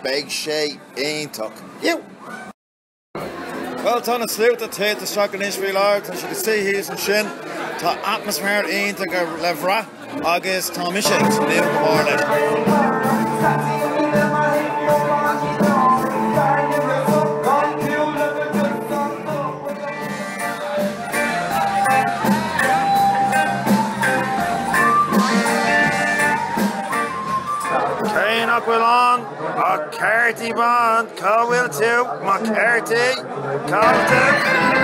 Beidh sé iontach. Bhuel, tá na sluaite ag teacht isteach anois faoi láthair, tá siad ag suí thíos ansin, tá atmaisféar iontach le bhraith agus tá mise ag tnúth go mór leis. Cé nach bhfuil ann ach cártaí bán, cá bhfuil tú, mo chártaí? Cá bhfuil tú?